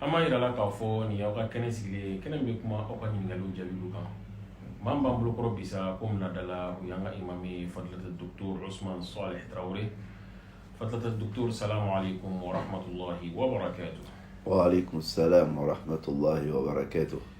An b'a jira aw la k'a fɔ nin y'aw ka kɛnɛ sigilen ye, kɛnɛ min bɛ kuma aw ka ɲininkaliw jaabiliw kan. Maa min b'an bolokɔrɔ bi sa, komi laada la, o y'an ka imam ye fadilata doctor Usumani Solih Tarawele. Fadilata doctor salamu aleyikomu warahmatulahi wabarakatu. Wa aleyikomu salamu warahmatulahi wabarakatu.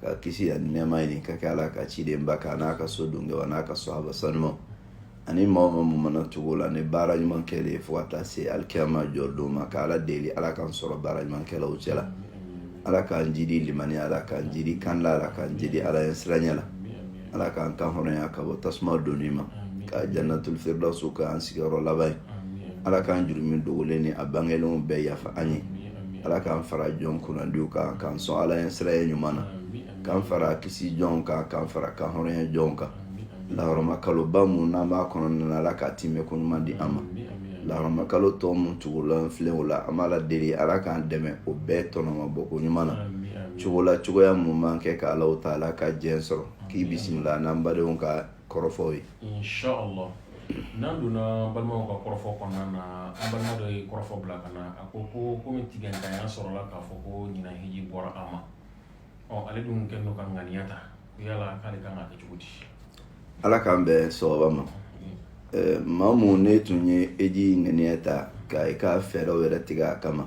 ka kisi ani nɛɛma ɲini ka kɛ ala ka cidenba kan n'a ka so don kɛw an'a ka sahaba sanumaw ani maa o maa mun mana tugu u la ni baara ɲuman kɛli ye fo ka taa se alikiyama jɔli don ma ka ala deli ala k'an sɔrɔ baara ɲuman kɛlaw cɛ la ala k'an jidi limaniya la ala k'an jidi kalan na ala k'an jidi ala ɲɛsiranɲɛ la ala k'an kan hɔrɔnya ka bɔ tasuma donni ma ka jannatul firdausu k'an sigiyɔrɔ laban ye ala k'an jurumu dogolen ni a bangelenw bɛɛ yafa an ye ala k'an fara jɔn kunnandiw kan k'an sɔn ala ɲɛsiranɲɛ ɲuman na k'an fara kisi jɔnw kan k'an fara kan hɔrɔnya jɔnw kan lahɔrɔma kaloba mun n'an b'a kɔnɔna na ala k'a timɛ ko ɲuman di an ma lahɔrɔma kalo tɔw mun tugulen filɛ o la an b'ala deli ala k'an dɛmɛ o bɛɛ tɔnɔma bɔ ko ɲuman na cogo la cogoya mun mana kɛ ka alahu taala ka diɲɛ sɔrɔ k'i bisimila n'an badenw ka kɔrɔfɔw ye inshallah n'an donna balimaw ka kɔrɔfɔ kɔnɔna na an balima dɔ ye kɔrɔfɔ bila ka na a ko ko komi sigantanya sɔrɔla k'a fɔ ko ɲinan hiji bɔra a ma ale dun kɔnna ka ŋaniya ta yala k'ale kan ka kɛ cogo di ala k'an bɛn sawaba ma maa mun ne tun ye hiji ŋaniya ta ka i ka fɛɛrɛw yɛrɛ tigɛ a kama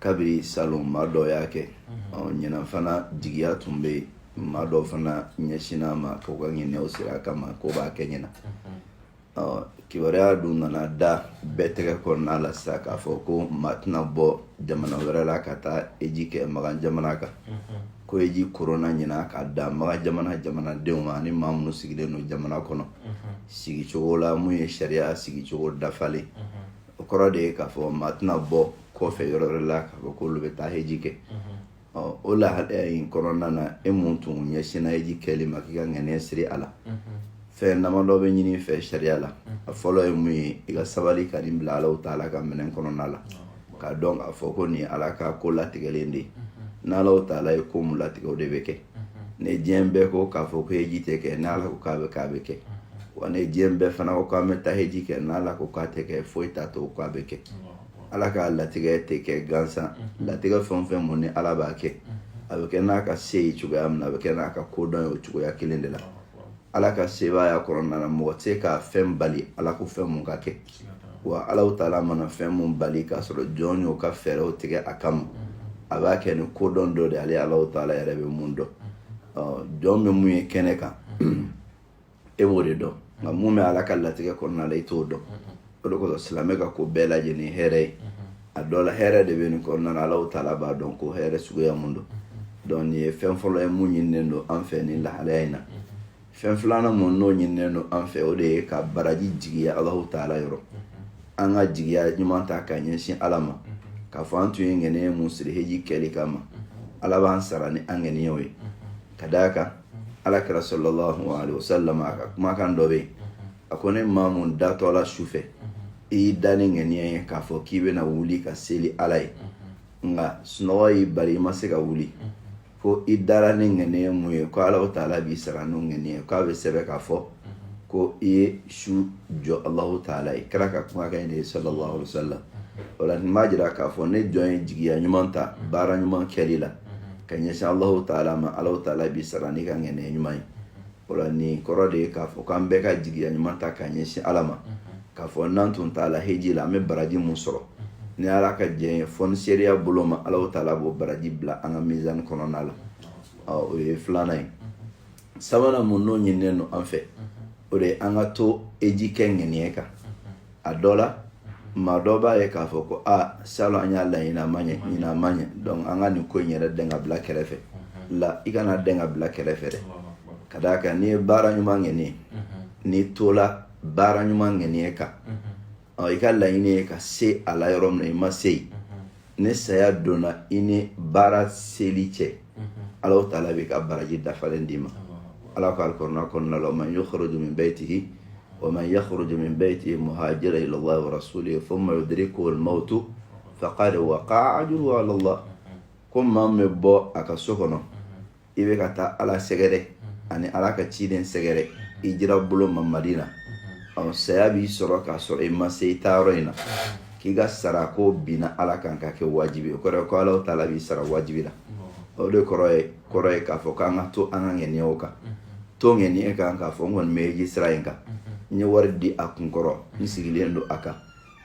kabiri salon maa dɔ y'a kɛ ɲinan fana jigiya tun bɛ yen maa dɔ fana ɲɛsinna a ma k'o ka ŋaniyaw siri a kama k'o b'a kɛ ɲinan kibaruya dun nana da bɛɛ tɛgɛ kɔnɔna la sisan k'a fɔ ko maa tɛna bɔ jamana wɛrɛ la ka taa hiji kɛ makan jamana kan ko hiji koronna ɲinan ka dan makan jamana jamanadenw ma ani maa minnu sigilen don jamana kɔnɔ sigicogo la mun ye sariya sigicogo dafalen o kɔrɔ de ye k'a fɔ maa tɛna bɔ kɔfɛ yɔrɔ wɛrɛ la k'a fɔ k'olu bɛ taa hiji kɛ ɔ o lahalaya in kɔnɔna na e mun tun ɲɛsinna hiji kɛli ma k'i ka ŋaniya siri a la fɛn damadɔ bɛ ɲini i fɛ sariya la a fɔlɔ ye mun ye i ka sabali ka nin bila alahu taala ka minɛn kɔnɔna la k'a dɔn k'a fɔ ko nin ala ka ko latigɛlen de ye n'alahu taala ye ko mun latigɛ o de bɛ kɛ ni diɲɛ bɛɛ ko k'a fɔ ko hiji tɛ kɛ n'ala ko k'a bɛ kɛ a bɛ kɛ wa ni diɲɛ bɛɛ fana ko k'an bɛ taa hiji kɛ n'ala ko k'a tɛ kɛ foyi t'a to k'a bɛ kɛ ala ka latigɛ tɛ kɛ gansan latigɛ fɛn o fɛn mun ni ala b'a kɛ a bɛ kɛ n'a ka se ye cogoya min a bɛ kɛ n'a ka kodɔn ye o cogoya kelen de la ala ka sebaaya kɔnɔna na mɔgɔ tɛ ka fɛn bali ala ko fɛn mun ka kɛ wa ala taala mana fɛn min bali k'a sɔrɔ jɔn y'o ka fɛɛrɛw tigɛ a kama a b'a kɛ ni kodɔn dɔ de ale ala taala yɛrɛ bɛ mun dɔn jɔn bɛ mun ye kɛnɛ kan e b'o de dɔn nka mun bɛ ala ka latigɛ kɔnɔna la i t'o dɔn o de kosɔn silamɛ ka ko bɛɛ lajɛlen ye hɛrɛ ye a dɔ la hɛrɛ de bɛ nin kɔnɔna na alahu taala b'a dɔn ko hɛrɛ suguya mun don donc nin ye fɛn fɔlɔ ye mun ɲininen don an fɛ nin lahalaya in na fɛn filanan mun n'o ɲininen don an fɛ o de ye ka baraji jigiya alahu taala yɔrɔ an ka jigiya ɲuman ta ka ɲɛsin ala ma k'a fɔ an tun ye ŋaniya mun siri heji kɛli kama ala b'an sara ni an ŋaniyaw ye ka d'a kan ala kira sallallahu alaihi wasallam a ka kumakan dɔ bɛ yen a ko ni maa mun datɔ la su fɛ i y'i da ni ŋaniya ye k'a fɔ k'i bɛna wuli ka seli ala ye nka sunɔgɔ y'i bali i ma se ka wuli ko i dara ni ŋaniya mun ye ko ala taala b'i sara n'o ŋaniya k'a bɛ sɛbɛn k'a fɔ ko i ye su jɔ alahu taala ye kira ka kumakan in de ye sallallahu alaihi wasallam o la nin b'a jira k'a fɔ ni jɔn ye jigiya ɲuman ta baara ɲuman kɛli la ka ɲɛsin alahu taala ma alahu taala b'i sara n'i ka ŋaniya ɲuman ye o la nin kɔrɔ de ye k'a fɔ k'an bɛɛ ka jigiya ɲuman ta ka ɲɛsin ala ma k'a fɔ n'an tun taala heji la an bɛ baraji mun sɔrɔ ni ala ka jɛn ye fonisereya bolo ma alahu taala b'o baraji bila an ka mizani kɔnɔna la o ye filanan ye sabanan mun n'o ɲininen don an fɛ o de ye an ka to heji kɛ ŋaniya kan a dɔ la maa dɔ b'a ye k'a fɔ ko salon an y'a laɲini a ma ɲɛ ɲinan a ma ɲɛ donc an ka nin ko in yɛrɛ dɛn ka bila kɛrɛfɛ la i kana dɛn ka bila kɛrɛfɛ dɛ ka d'a kan n'i ye baara ɲuman ŋaniya n'i tola baara ɲuman ŋaniya kan i ka laɲini ye ka se a la yɔrɔ min na i ma se yen ni saya donna i ni baara seli cɛ ala taala b'i ka baraji dafalen d'i ma ala ko alikurana kɔnɔna la man yukhruju min baytihi wa man yakhruju min baytihi muhajiran ila allahi wa rasulihi thumma yudrikuhu almautu faqad waqa'a ajruhu ala allah ko maa min bɛ bɔ a ka so kɔnɔ i bɛ ka taa ala sɛgɛrɛ ani ala ka ciden sɛgɛrɛ hijira bolo ma madina ɔ saya b'i sɔrɔ k'a sɔrɔ i ma se i taayɔrɔ in na k'i ka sara ko binna ala kan ka kɛ wajibi o kɔrɔ ko ala taala b'i sara wajibi la o de kɔrɔ ye kɔrɔ ye k'a fɔ k'an ka to an ka ŋɛniyaw kan to ŋɛniya kan k'a fɔ n kɔni bɛ heji sira in kan n ye wari di a kunkɔrɔ n sigilen don a kan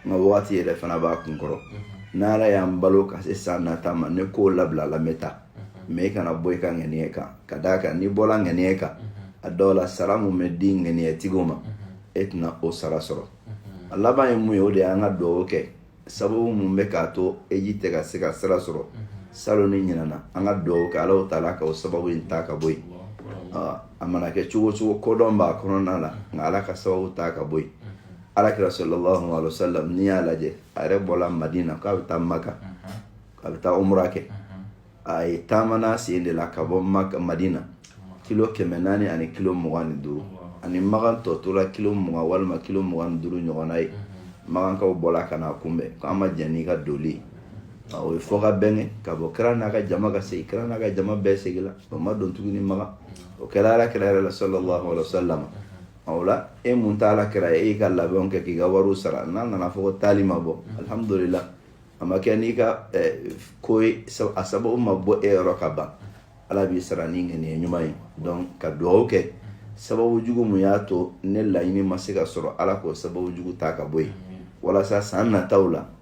n ka wagati yɛrɛ fana b'a kunkɔrɔ n'ala y'an balo ka se san nata ma ni ko labilala n bɛ taa mais i kana bɔ i ka ŋaniya kan ka d'a kan n'i bɔla ŋaniya kan a dɔw la sara mun bɛ di ŋaniyatigiw ma e tɛna o sara sɔrɔ a laban ye mun ye o de y'an ka dugawu kɛ sababu mun bɛ k'a to heji tɛ ka se ka sira sɔrɔ salon ni ɲinan na an ka dugawu kɛ alahu taala ka o sababu in ta ka bɔ yen a mana kɛ cogo cogo kodɔn b'a kɔnɔna la nka ala ka sababu ta ka bɔ yen alakira sallallahu alaihi wasallam n'i y'a lajɛ a yɛrɛ bɔla madina k'a bɛ taa maka a bɛ taa umra kɛ a ye taamana sen de la ka bɔ maka madina kilo kɛmɛ naani ani kilo mugan ni duuru ani makan tɔ tora kilo mugan walima kilo mugan ni duuru ɲɔgɔnna ye makankaw bɔla ka n'a kunbɛn k'an ma jɛn n'i ka doli o ye fɔ ka bɛn kɛ ka bɔ kira n'a ka jama ka segin kira n'a ka jama bɛɛ segin la o ma don tuguni makan o kɛra ala kira yɛrɛ la sallallahu alaihi wasallam o la e mun tɛ alakira ye e y'i ka labɛnw kɛ k'i ka wariw sara n'a nana fɔ ko taali ma bɔ alihamudulila a ma kɛ n'i ka ko ye a sababu ma bɔ e yɔrɔ kaban ala b'i sara ni ŋaniya ɲuman ye donc ka dugawu kɛ sababu jugu mun y'a to ne laɲini ma se ka sɔrɔ ala k'o sababu jugu ta ka bɔ yen walasa san nataw la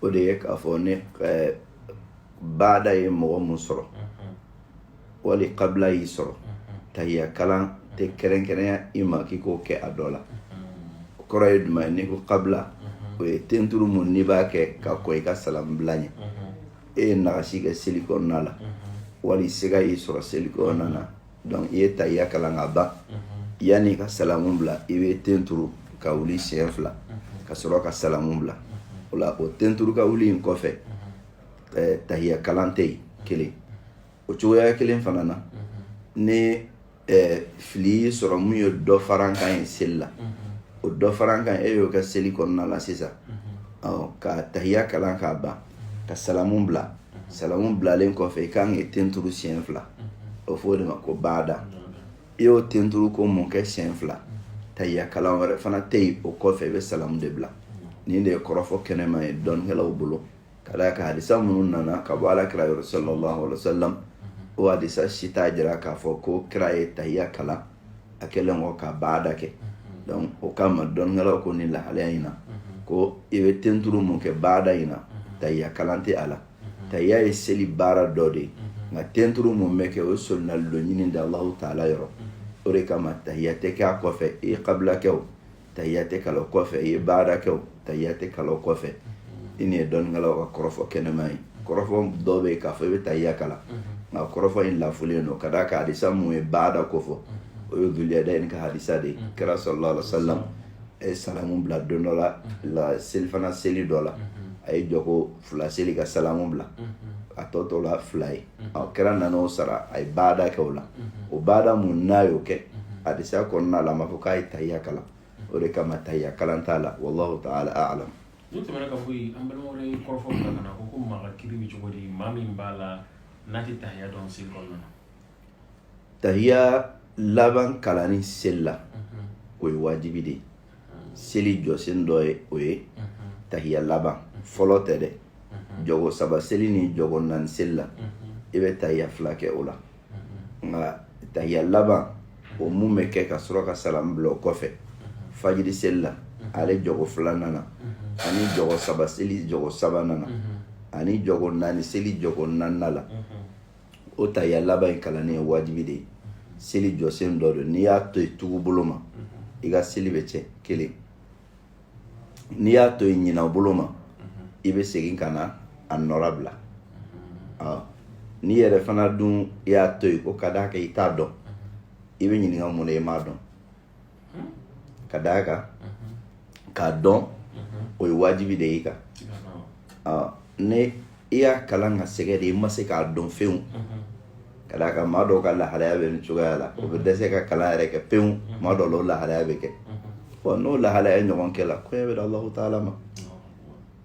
o de ye k'a fɔ ni eh, baada ye mɔgɔ mun sɔrɔ wali kabila y'i sɔrɔ tahiya kalan tɛ kɛrɛnkɛrɛnya i ma k'i k'o kɛ a dɔ la o kɔrɔ ye jumɛn ye n'i ko kabila o ye tenturu mun n'i b'a kɛ ka kɔn i ka salamu bila ɲɛ e ye nagasi kɛ seli kɔnɔna la wali siga y'i sɔrɔ seli kɔnɔna na donc i ye tahiya kalan ka ban yanni ka salamu bila i bɛ ten turu ka wuli siɲɛ fila ka sɔrɔ ka salamu bila o la o ten turu ka wuli in kɔfɛ eh, tahiya kalan tɛ yen kelen o cogoya kelen fana na ni eh, fili y'i sɔrɔ mun ye dɔfarankan ye seli la o dɔfarankan e y'o kɛ seli kɔnɔna la sisan ka tahiya kalan k'a ban ka salamu bila salamu bilalen kɔfɛ i kan k'i ten turu siɲɛ fila o fɔ o de ma ko baada i y'o ten turu ko mun kɛ siɲɛ fila tahiya kalan wɛrɛ fana tɛ yen o kɔfɛ i bɛ salamu de bila nin de ye kɔrɔfɔ kɛnɛman ye dɔnnikɛlaw bolo ka d'a kan hadisa minnu nana ka bɔ ala kira yɔrɔ sallallahu alaihi wa sallam o hadisa si t'a jira k'a fɔ ko kira ye tahiya kalan a kɛlen kɔ ka baada kɛ donc o kama dɔnnikɛlaw ko nin lahalaya in na ko i bɛ tenturu mun kɛ baada in na tahiya kalan tɛ a la tahiya ye seli baara dɔ de ye nka tenturu mun bɛ kɛ o ye solonali dɔ ɲini de allahu taala yɔrɔ o de kama tahiya tɛ kɛ a kɔfɛ i ye kabila kɛ o tahiya tɛ kalan o kɔfɛ i ye baada kɛ o tahiya tɛ kalan o kɔfɛ i nin ye dɔnnikɛlaw ka kɔrɔfɔ kɛnɛman ye kɔrɔfɔ dɔw bɛ yen k'a fɔ i bɛ tahiya kalan nka kɔrɔfɔ in lafulen don ka d'a kan hadisa mun ye baada ko fɔ o ye duliyadayin ka hadisa de ye kira sallallahu alaihi wa sallam a ye salamu bila don dɔ la la selifana seli dɔ la a ye jɔko fila seli ka salamu bila a tɔ tora fila ye a kira nana o sara a ye baada kɛ o la o baada mun n'a y'o kɛ hadisa kɔnɔna la a ma fɔ k'a ye tahiya kalan o de kama tahiya kalan t'a la wallahu ta'ala a'lam n'o tɛmɛna ka bɔ yen an balima wɛrɛ ye kɔrɔfɔ bila ka na ko ko maa ka kiri bɛ cogo di maa min b'a la n'a tɛ tahiya dɔn seli kɔnɔna na tahiya laban kalanni seli la o ye wajibi de ye seli jɔsen dɔ ye o ye tahiya laban fɔlɔ tɛ dɛ jɔgo saba seli ni jɔgo naani seli la i bɛ tahiya fila kɛ o la nka tahiya laban o mun bɛ kɛ ka sɔrɔ ka salam bila o kɔfɛ fajiri seli la ale jɔgo filanan na ani jɔgo saba seli jɔgo sabanan na ani jɔgo naani seli jɔgo naaninan la o tahiya laban in kalanni ye wajibi de ye seli jɔsen dɔ don n'i y'a to yen tugu bolo ma i ka seli bɛ cɛn kelen n'i y'a to yen ɲina bolo ma i bɛ segin ka na a nɔra bila n'i yɛrɛ fana dun i y'a to yen ko ka d'a kan i t'a dɔn i bɛ ɲininka mun na i m'a dɔn ka d'a kan k'a dɔn o ye wajibi de y'i kan ni i y'a kalan ka sɛgɛn de i ma se k'a dɔn fewu ka d'a kan maa dɔw ka lahalaya bɛ nin cogoya la o bɛ dɛsɛ ka kalan yɛrɛ kɛ pewu maa dɔw la o lahalaya bɛ kɛ bɔn n'o lahalaya ɲɔgɔn kɛla koɲɛ bɛ da alahu taala ma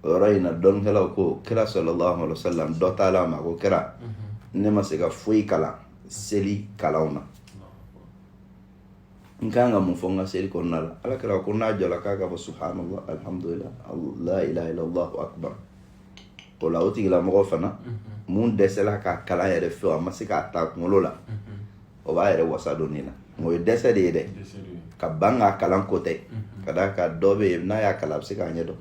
o yɔrɔ in na dɔnnikɛlaw ko kira sallallahu alayhi wa sallam dɔ taal'a ma ko kira ne ma se ka foyi kalan seli kalanw na n kan ka mun fɔ n ka seli kɔnɔna la ala kira ko n'a jɔla k'a k'a fɔ subhanallah alhamdulillah la ilaha illallah akbar o la o tigilamɔgɔ fana mun dɛsɛla k'a kalan yɛrɛ fewu a ma se k'a ta kunkolo la o b'a yɛrɛ wasa don nin na o ye dɛsɛ de ye dɛ ka ban k'a kalan ko tɛ ka d'a kan dɔ bɛ yen n'a y'a kalan a bɛ se k'a ɲɛ dɔn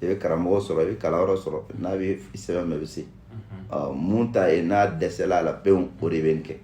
i bɛ karamɔgɔ sɔrɔ i bɛ kalanyɔrɔ sɔrɔ n'a bɛ sɛbɛn mɛ i bɛ se mun ta ye n'a dɛsɛla a la pewu o de bɛ nin kɛ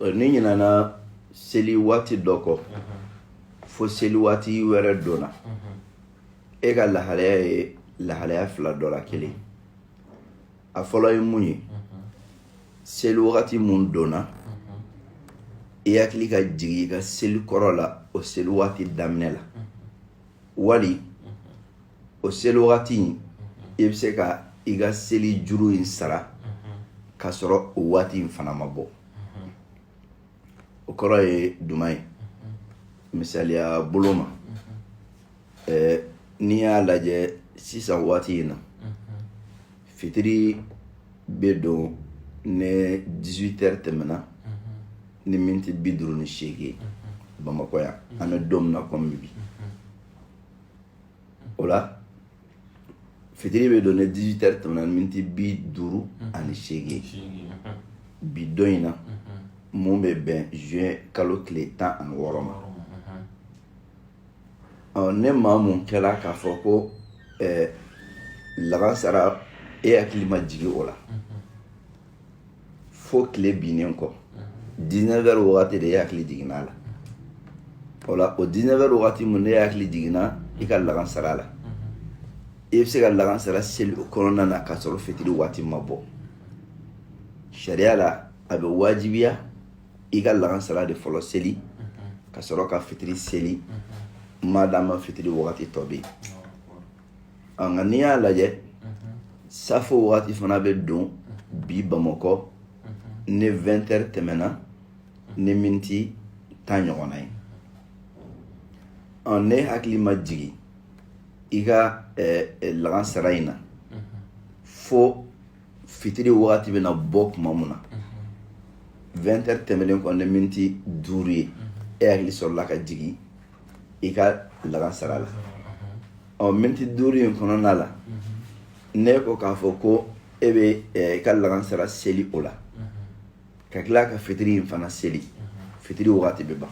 n'i ɲinana seli waati dɔ kɔ fo seli waati wɛrɛ donna e ka lahalaya ye lahalaya fila dɔ la kelen a fɔlɔ ye mun ye seli wagati mun donna i hakili ka jigin i ka seli kɔrɔ la o seli waati daminɛ la wali o seli wagati in i bɛ se ka i ka seli juru in sara ka sɔrɔ o waati in fana ma bɔ o kɔrɔ ye juman ye misaliya bolo ma n'i y'a lajɛ sisan waati in na fitiri bɛ don ni 18 heures tɛmɛna ni miniti bi duuru ni seegin bamakɔ yan an bɛ don min na kɔmi bi o la fitiri bɛ don ni 18 heures tɛmɛna miniti bi duuru ani seegin bi don in na mun bɛ bɛn zuwɛn kalo tile tan ani wɔɔrɔ ma ɔ ni maa mun kɛla k'a fɔ ko lagansara e hakili ma jigin o la fo tile binnen kɔ 19 heures wagati de e hakili jiginna a la o la o 19 heures wagati mun n'e hakili jiginna i ka lagansara la i bɛ se ka lagansara seli o kɔnɔna na k'a sɔrɔ fitiri waati ma bɔ sariya la a bɛ wajibiya i ka lagansara de fɔlɔ seli ka sɔrɔ ka fitiri seli madama fitiri wagati tɔ bɛ yen an nka n'i y'a lajɛ safo waati fana bɛ don bi bamakɔ ni 20 heures tɛmɛna ni miniti tan ɲɔgɔnna ye n'e hakili ma jigin i ka lagansara in na fo fitiri wagati bɛna bɔ tuma min na 20 heures tɛmɛnen kɔ ni miniti duuru ye e hakili sɔrɔla ka jigin i ka lagansara la ɔ miniti duuru in kɔnɔna la n'e ko k'a fɔ ko e bɛ i ka lagansara seli o la ka tila ka fitiri in fana seli fitiri wagati bɛ ban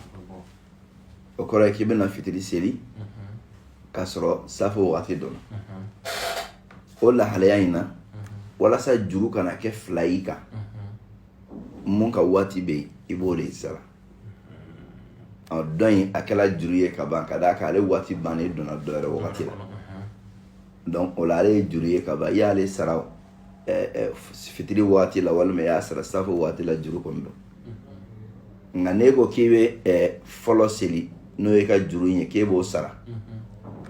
o kɔrɔ ye k'i bɛna fitiri seli k'a sɔrɔ safo wagati donna o lahalaya in na walasa juru kana kɛ fila y'i kan mun ka waati bɛ yen i b'o de sara ɔ dɔ in a kɛra juru ye ka ban ka d'a kan ale waati bannen donna dɔ wɛrɛ wagati la donc o la ale ye juru ye ka ban i y'ale sara eh, eh, fitiri waati la walima i y'a sara safo waati la juru kɔni don nka n'e ko k'i bɛ eh, fɔlɔ seli n'o y'i ka juru ye k'e b'o sara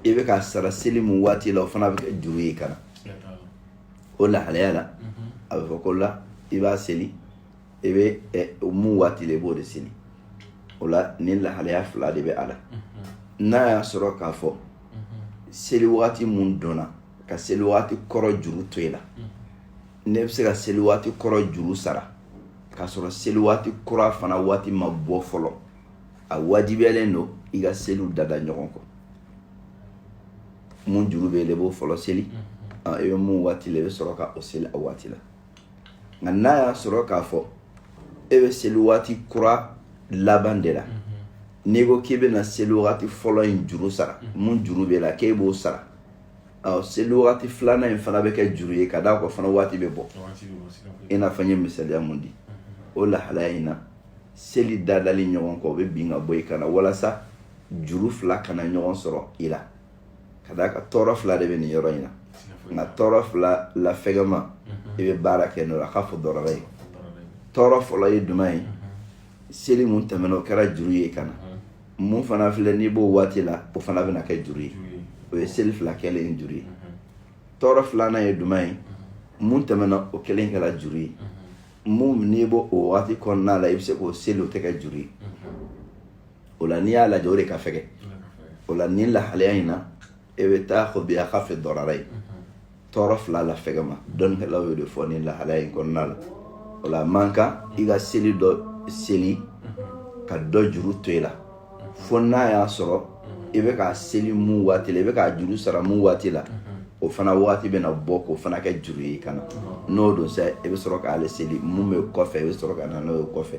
i bɛ ka sara seli mun waati la o fana bɛ kɛ juru y'i kan na o lahalaya la a bɛ fɔ ko la i b'a seli i bɛ mun waati la i b'o de seli o la nin lahalaya fila de bɛ a la n'a y'a sɔrɔ k'a fɔ seli waati mun donna ka seli waati kɔrɔ juru to i la n'e bɛ se ka seli waati kɔrɔ juru sara k'a sɔrɔ seli waati kura fana waati ma bɔ fɔlɔ a wajibiyalen don i ka seliw dada ɲɔgɔn kɔ mun juru bɛ yen i b'o fɔlɔ seli i bɛ mun waati la i bɛ sɔrɔ ka o seli a waati la nka n'a y'a sɔrɔ k'a fɔ e bɛ seli waati kura laban de la n'i ko k'i bɛna seli waati fɔlɔ in juru sara mun juru b'e la k'e b'o sara ɔ seli waati filanan in fana bɛ kɛ juru ye ka d'a kan o fana waati bɛ bɔ i n'a fɔ n ye misaliya mun di o lahalaya in na seli dadali ɲɔgɔn kɔ o bɛ bin ka bɔ i kan na walasa juru fila kana ɲɔgɔn sɔrɔ i la ka d'a kan tɔɔrɔ fila de bɛ nin yɔrɔ in na nka tɔɔrɔ fila la fɛgɛman i bɛ baara kɛ n'o la akafu dararayin tɔɔrɔ fɔlɔ ye jumɛn ye seli mun tɛmɛna o kɛra juru ye ka na mun fana filɛ n'i b'o waati la o fana bɛna kɛ juru ye o ye seli fila kɛlen ye juru ye tɔɔrɔ filanan ye jumɛn ye mun tɛmɛna o kelen kɛra juru ye mun n'i b'o o waati kɔnɔna la i bɛ se k'o seli o tɛ kɛ juru ye o la n'i y'a lajɛ o de ka fɛgɛ o la nin lahalaya in na e bɛ taa fɔ bi akafi dararayin tɔɔrɔ fila la fɛgɛman dɔnnikɛlaw y'o de fɔ nin lahalaya in kɔnɔna la o la man kan i ka seli dɔ seli ka dɔ juru to i la fo n'a y'a sɔrɔ i bɛ k'a seli mun waati la i bɛ k'a juru sara mun waati la o fana waati bɛna bɔ k'o fana kɛ juru ye i kana n'o don sa i bɛ sɔrɔ k'ale seli mun bɛ kɔfɛ i bɛ sɔrɔ ka na n'o ye kɔfɛ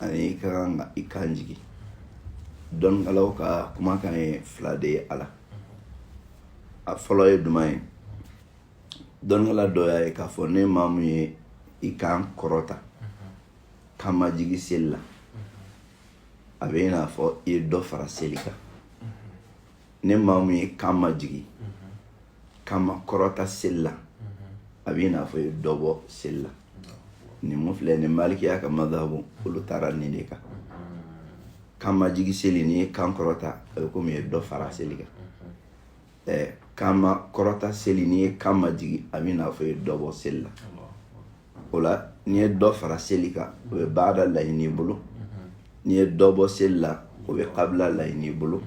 ani i ka kan ka i kan jigi dɔnnikɛlaw ka kumakan ye fila de ye a la a fɔlɔ ye jumɛn ye dɔnnikɛla dɔ y'a ye k'a fɔ ni maa mun ye i kan kɔrɔta kan majigi seli la a bɛ i n'a fɔ i ye dɔ fara seli kan ni maa mun ye kan majigin kan makɔrɔta seli la a bɛ i n'a fɔ i ye dɔ bɔ seli la nin mun filɛ nin malikiya ka mazhabu olu taara nin de kan kan majigin seli n'i ye kan kɔrɔta a bɛ komi i ye dɔ fara seli kan ɛɛ kan makɔrɔta seli n'i ye kan majigin a bɛ i n'a fɔ i ye dɔ bɔ seli la o la n'i ye dɔ fara seli kan o bɛ baada laɲini i bolo n'i ye dɔ bɔ seli la o bɛ kabila laɲini i bolo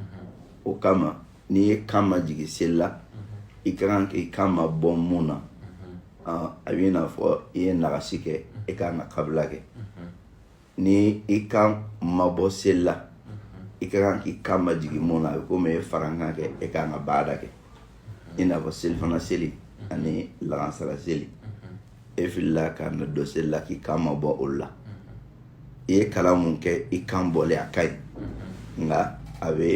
o kama n'i ye kan majigin seli la i ka kan k'i kan mabɔ mun na a b'i n'a fɔ i ye nagasi kɛ i ka kan ka kabila kɛ ni i kan mabɔ seli la i ka kan k'i kan majigin mun na a bɛ komi i ye farankan kɛ e ka kan ka baada kɛ i n'a fɔ selifana seli ani lagansara seli e filila ka na don seli la k'i kan mabɔ olu la i ye kalan mun kɛ i kan bɔlen a ka ɲi nka a bɛ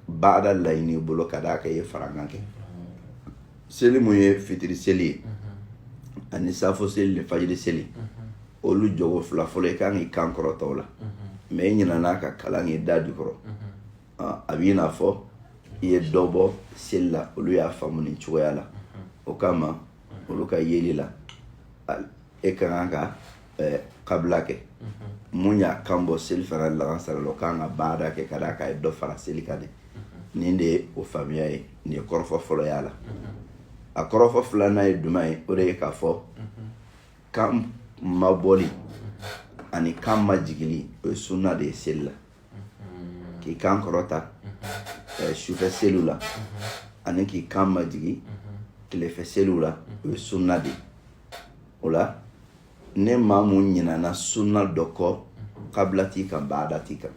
baada laɲini i bolo ka d'a kan i ye farankan kɛ seli mun ye fitiri seli ye ani saafo seli ni fajiri seli olu jɔkɔ fila fɔlɔ i kan k'i kan kɔrɔta o la mɛ i ɲinana ka kalan k'i da jukɔrɔ a b'i n'a fɔ i ye dɔ bɔ seli la olu y'a faamu nin cogoya la o kama olu ka yeli la e ka kan ka ɛɛ kabila kɛ mun y'a kan bɔ selifana lagansara la o kan ka baada kɛ ka d'a kan a ye dɔ fara seli kan de nin de ye o faamuya ye nin ye kɔrɔfɔ fɔlɔ y'a la a kɔrɔfɔ filanan ye jumɛn ye o de ye k'a fɔ kan mabɔli ani kan majigili o ye sunna de ye seli la k'i kan kɔrɔta eh, sufɛ seliw la ani k'i kan majigi tilefɛ seliw la o ye sunna de ye o la ni maa mun ɲinana sunna dɔ kɔ kabila t'i kan baada t'i kan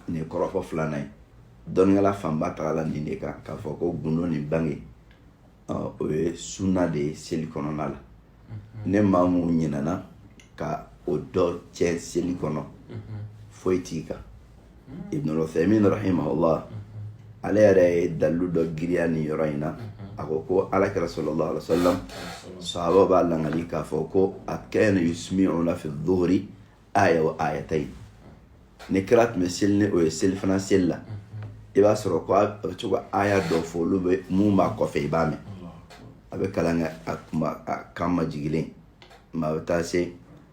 nin ye kɔrɔfɔ filanan ye dɔnnikɛla fanba tagala nin de kan k'a fɔ ko gundo ni bange o ye sunna de ye seli kɔnɔna la ni maa mun ɲinana ka o dɔ cɛ seli kɔnɔ foyi t'i kan ibnu uthaymin rahimahullah ale yɛrɛ ye dalilu dɔ giriya nin yɔrɔ in na a ko ko alakira sallallahu alaihi wasallam sahaba b'a langali k'a fɔ ko a kana yusmi'una fi dhuhri aya wa ayatayn ni kira tun bɛ seli ni o ye selifana seli la i b'a sɔrɔ ko a bɛ to ka aya dɔ fɔ olu bɛ mun b'a kɔfɛ i b'a mɛn a bɛ kalan kɛ a kuma a kan majigilen maa bɛ taa se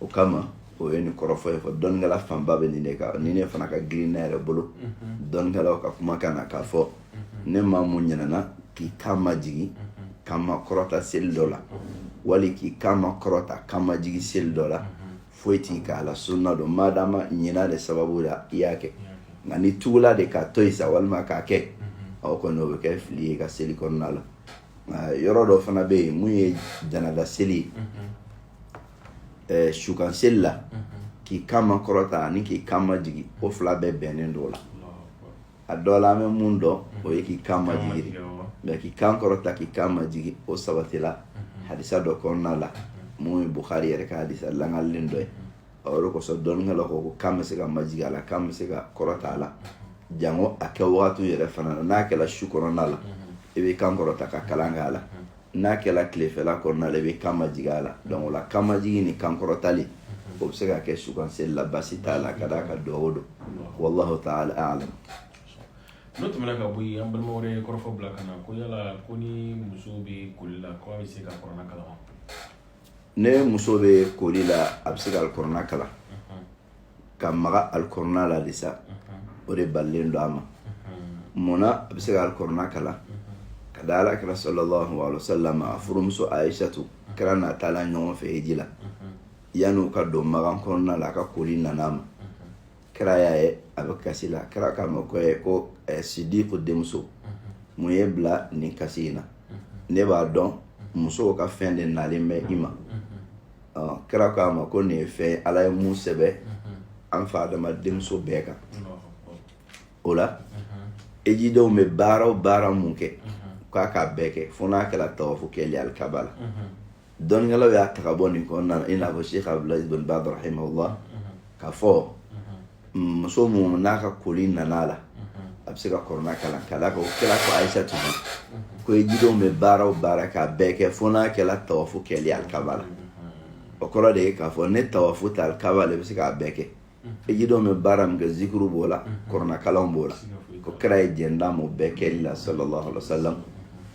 o kama o ye nin kɔrɔfɔ ye fɔ dɔnnikɛla fanba bɛ nin de kan nin de fana ka girin ne yɛrɛ bolo dɔnnikɛlaw ka kumakan na k'a fɔ ni maa mun ɲinɛna k'i kan majigin kan makɔrɔta seli dɔ la wali k'i kan makɔrɔta kan majigin seli dɔ la foyi t'i kan a la sunna don madama ɲina de sababu la i y'a kɛ nka n'i tugula de k'a to yen sa walima k'a kɛ aw kɔni o bɛ kɛ fili y'i ka seli kɔnɔna la yɔrɔ dɔ fana bɛ yen mun ye janada seli ye sukan seli la k'i kan makɔrɔta ani k'i kan majigin o fila bɛɛ bɛnnen don o la a dɔ la an bɛ mun dɔn o ye k'i kan majigin mais k'i kan kɔrɔta k'i kan majigin o sabatila hadisa dɔ kɔnɔna la mun ye bukari yɛrɛ ka hadisa langalen dɔ ye ɔ o de kosɔn dɔnnikɛlaw ko ko kan bɛ se ka majigi a la kan bɛ se ka kɔrɔta a la jango a kɛ wagati yɛrɛ fana na n'a kɛra su kɔnɔna la i bɛ kan kɔrɔta ka kalan kɛ a la n'a kɛra tilefɛla kɔnɔna la i bɛ kan majigi a la donc o la kan majigi ni kan kɔrɔtali o bɛ se ka kɛ sukanseli la basi t'a la ka d'a kan duwawu o don wallahu ta'ala a'lam n'o tɛmɛna ka bɔ yen an balima wɛrɛ ye kɔrɔfɔ bila ka na ko yala ko ni muso bɛ koli la ko a bɛ se ka kɔrɔna kalan wa ni muso bɛ koli la a bɛ se ka alikɔrɔna kalan ka maga alikɔrɔna la de sa o de balilen don a ma munna a bɛ se ka alikɔrɔna kalan ka da alakira sallallahu alaihi wasallam a furumuso Aisatu kira n'a taala ɲɔgɔn fɛ hiji la yanni u ka don magan kɔnɔna la a ka koli nana a ma kira y'a ye a bɛ kasi la kira k'a ma ko ye ko eh, sidiku denmuso mun y'i bila nin kasi in na ne b'a dɔn musow ka fɛn de nalen bɛ i ma kira k'a ma ko nin ye fɛn ye ala ye mun sɛbɛ an fa adama denmuso bɛɛ kan o la ejidenw bɛ baara o baara mun kɛ k'a k'a bɛɛ kɛ fo n'a kɛra tawafu kɛli alikaba la dɔnnikɛlaw y'a ta ka bɔ nin kɔnɔna na i n'a fɔ sheikh abdulaziz bin baz rahimahullah k'a fɔ muso mun n'a ka koli nana a la a bɛ se ka kɔrɔna kalan ka d'a kan o kira ko ayisatu ko ejidenw bɛ baara o baara k'a bɛɛ kɛ fo n'a kɛra tawafu kɛli alikaba la o kɔrɔ de ye k'a fɔ ni tawafu tɛ alikaba la i bɛ se k'a bɛɛ kɛ ejidenw bɛ baara min kɛ zikuru b'o la kɔrɔna kalan b'o la ko kira ye jɛn d'a m'o bɛɛ kɛli la sallallahu alaihi wasallam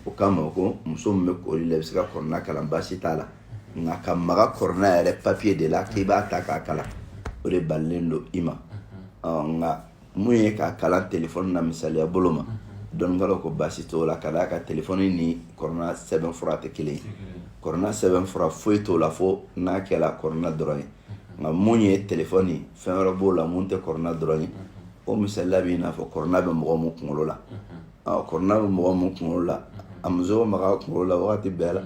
o kama ko muso min bɛ koli la i bɛ se ka kɔrɔna kalan baasi t'a la nka ka maga kɔrɔna yɛrɛ papiye de la k'i b'a ta k'a kalan o de balilen don i ma nka mun ye k'a kalan telefɔni na misaliya bolo ma dɔnnikɛlaw ko baasi t'o la ka d'a kan telefɔni ni kɔrɔna sɛbɛn fura tɛ kelen ye kɔrɔna sɛbɛn fura foyi t'o la fo n'a kɛla kɔrɔna dɔrɔn ye nka mun ye telefɔni fɛn wɛrɛ b'o la mun tɛ kɔrɔna dɔrɔn ye o misaliya b'i n'a fɔ kɔrɔna bɛ mɔgɔ min kunkolo la kɔrɔna bɛ mɔgɔ min kunkolo la a muso maga kunkolo la wagati bɛɛ la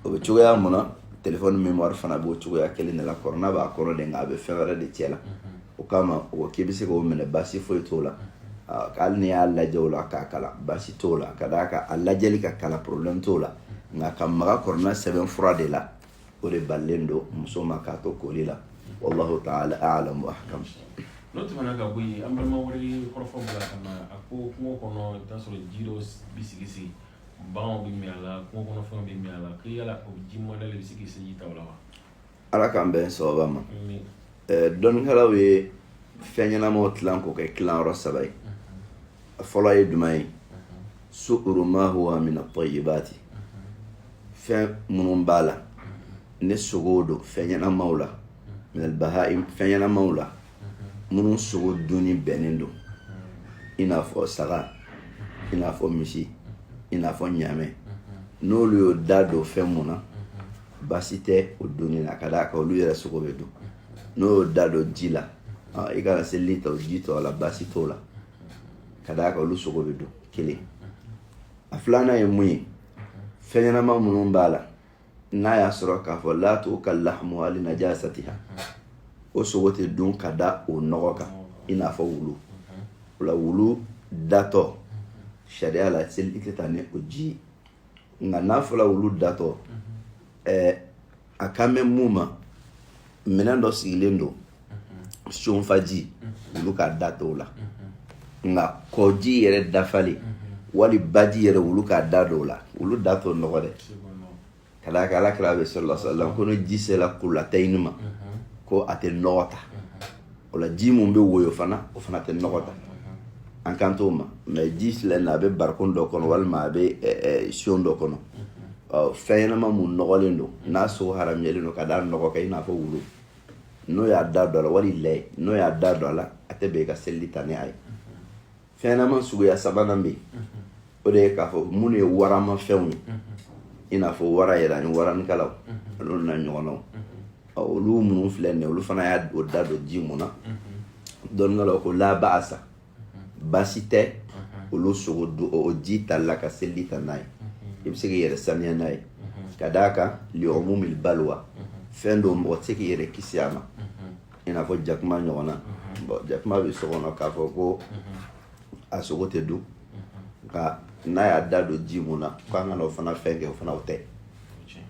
o bɛ cogoya mun na telefɔni memuwari fana b'o cogoya kelen de la kɔrɔna b'a kɔnɔ de nka a bɛ fɛn wɛrɛ de cɛ la o kama o k'i bɛ se k'o minɛ baasi foyi t'o la hali n'i y'a lajɛ o la k'a kalan baasi t'o la ka d'a kan a lajɛli k'a kalan porobilɛmu t'o la nka ka maga kɔrɔna sɛbɛn fura de la o de balilen don muso ma k'a to koli la wallahu taala alam wa ahkam n'o tɛmɛna ka bɔ yen an balima wɛrɛ ye kɔrɔfɔ bila ka na a ko kungo kɔnɔ i bɛ t'a sɔrɔ ji dɔ bɛ sigi sigi baganw bɛ min a la kungo kɔnɔ fɛnw bɛ min a la ko yala o ji mɔdɛli bɛ se k'i seliji ta o la wa ala k'an bɛn sababa ma dɔnnikɛlaw ye fɛn ɲɛnamaw tilan k'o kɛ tilayɔrɔ saba ye a fɔlɔ ye jumɛn ye suuru ma huwa mina tayibati fɛn minnu b'a la ni sogow don fɛn ɲɛnamaw la minal bahaim fɛn ɲɛnamaw la minnu sogo dunni bɛnnen don i n'a fɔ saga i n'a fɔ misi i n'a fɔ ɲaamɛ n'olu y'o da don fɛn mun na baasi tɛ o dunni na ka d'a kan olu yɛrɛ sogo bɛ dun n'o y'o da don ji la i ka na seliji ta o ji tɔ la baasi t'o la ka d'a kan olu sogo bɛ dun kelen a filanan ye mun ye fɛn ɲɛnama minnu b'a la n'a y'a sɔrɔ k'a fɔ la tukalu lahamuha li najasatiha o sogo tɛ dun ka da o nɔgɔ kan i n'a fɔ wulu o la wulu datɔ sariya la seliji tɛ ta ni o ji ye nka n'a fɔra wulu datɔ ɛɛ a kan bɛ mun ma minɛn dɔ sigilen don sonfaji wulu k'a da d'o la nka kɔji yɛrɛ dafalen wali baji yɛrɛ wulu k'a da d'o la wulu da t'o nɔgɔ dɛ ka d'a kan ala kira bɛ sallallahu alaihi wasallam ko ni ji sera kulatayini ma ko a tɛ nɔgɔ ta o la ji mun bɛ woyo fana o fana tɛ nɔgɔ ta an kan t'o ma mais ji filɛ nin a bɛ barikon dɔ kɔnɔ walima a bɛ sion dɔ kɔnɔ fɛn ɲɛnama mun nɔgɔlen don n'a sogo haramuyalen don ka da nɔgɔ kan i n'a fɔ wulu n'o y'a da don a la wali lɛ n'o y'a da don a la a tɛ bɛn i ka selili ta ni a ye fɛnɲɛnama suguya sabanan bɛ yen o de ye k'a fɔ minnu ye warama fɛnw ye i n'a fɔ wara yɛrɛ ani waranikalaw olu n'a ɲɔgɔnnaw olu minnu filɛ nin olu fana y'a o da don ji mun na dɔnnikɛlaw ko la ba'asa baasi tɛ olu sogo don o ji tali la ka selili ta n'a ye i bɛ se k'i yɛrɛ saniya n'a ye ka d'a kan li'umumil balwa fɛn don mɔgɔ tɛ se k'i yɛrɛ kisi a ma i n'a fɔ jakuma ɲɔgɔnna bon jakuma bɛ so kɔnɔ k'a fɔ ko a sogo tɛ dun nka n'a y'a da don ji mun na k'an kana o fana fɛn kɛ o fana o tɛ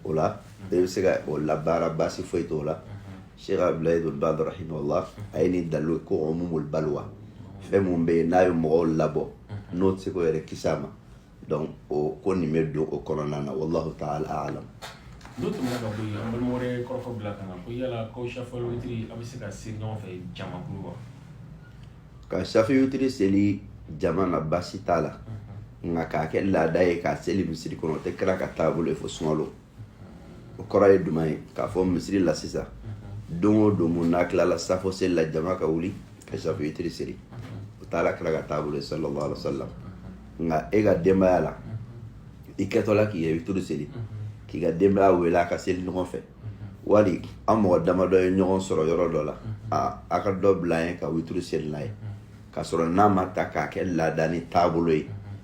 o la e bɛ se ka o labaara baasi foyi t'o la sheikh abdulayi ibn baz rahimahullah a ye nin dalilu ko umumul balwa fɛn mun bɛ yen n'a ye mɔgɔw labɔ n'o tɛ se k'o yɛrɛ kisi a ma donc o ko nin bɛ don o kɔnɔna na wallahu taala alam n'o tɛmɛna ka bɔ yen an balima wɛrɛ ye kɔrɔfɔ bila ka na ko yala k'aw safɔli witiri a bɛ se ka seli ɲɔgɔn fɛ jamakulu wa ka safi witiri seli jama na baasi t'a la nka k'a kɛ laada ye k'a seli misiri kɔnɔ o tɛ kira ka taabolo ye fo sunkalo o kɔrɔ ye jumɛn ye k'a fɔ misiri la sisan don o don mun n'a tilala safo seli la jama ka wuli ka safi witiri seli o t'ala kira ka taabolo ye sallallahu alaihi wasallam nka e ka denbaya la i kɛtɔla k'i ye witiri seli k'i ka denbaya wele a ka seli ɲɔgɔn fɛ wali an mɔgɔ damadɔ ye ɲɔgɔn sɔrɔ yɔrɔ dɔ la a a ka dɔ bila an ɲɛ ka witiri seli n'a ye k'a sɔrɔ n'a ma ta k'a kɛ laada ni taabolo ye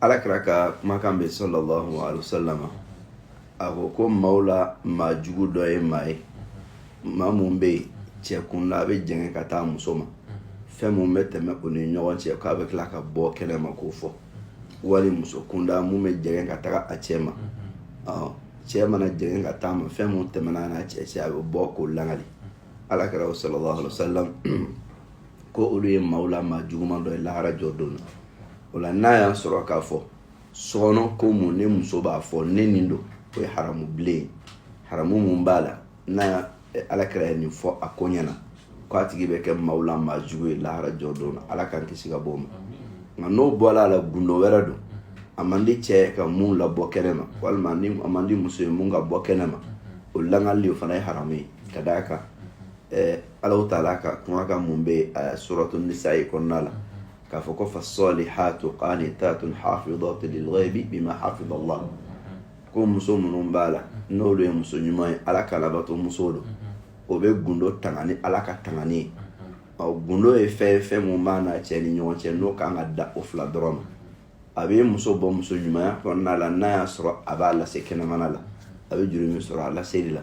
alakira ka kumakan bɛ sallallahu alayhi wa sallam a ko ko maaw la maa jugu dɔ ye maa ye maa mun bɛ yen cɛ kunda a bɛ jɛngɛ ka taa muso ma fɛn mun bɛ tɛmɛ o ni ɲɔgɔn cɛ k'a bɛ tila ka bɔ kɛnɛ ma k'o fɔ wali muso kunda mun bɛ jɛngɛ ka taga a cɛ ma cɛ mana jɛngɛ ka taa ma fɛn mun tɛmɛna n'a cɛ cɛ a bɛ bɔ k'o langali alakira sallallahu alayhi wa sallam ko olu ye maaw la maa juguman dɔ ye lahara jɔ don na o la n'a y'a sɔrɔ k'a fɔ sokɔnɔ ko mun ne muso b'a fɔ ne nin don o ye haramu bilen ye haramu mun b'a la n'a eh, ala kira ye nin fɔ a ko ɲɛ na ko a tigi bɛ kɛ maaw la maa jugu ye lahara jɔ don na ala k'an kisi ka bɔ o ma nka n'o bɔla a la gundo wɛrɛ don a man di cɛ ka mun labɔ kɛnɛ ma walima ni a man di muso ye mun ka bɔ kɛnɛ ma o lakali o fana ye haramu ye ka d'a kan ɛɛ alahu taala ka kumakan mun bɛ a suratu nisayi kɔnɔna la k'a fɔ ko fasalihatu qanitatun hafidatu lilghaibi bima hafida allah ko muso minnu b'a la n'olu ye muso ɲuman ye ala ka labato muso don o bɛ gundo tanga ni ala ka tangani ye ɔ gundo ye fɛn ye fɛn mun b'a n'a cɛ ni ɲɔgɔn cɛ n'o kan ka dan o fila dɔrɔn ma a bɛ muso bɔ muso ɲumanya kɔnɔna la n'a y'a sɔrɔ a b'a lase kɛnɛmana la a bɛ jurumu sɔrɔ a laseli la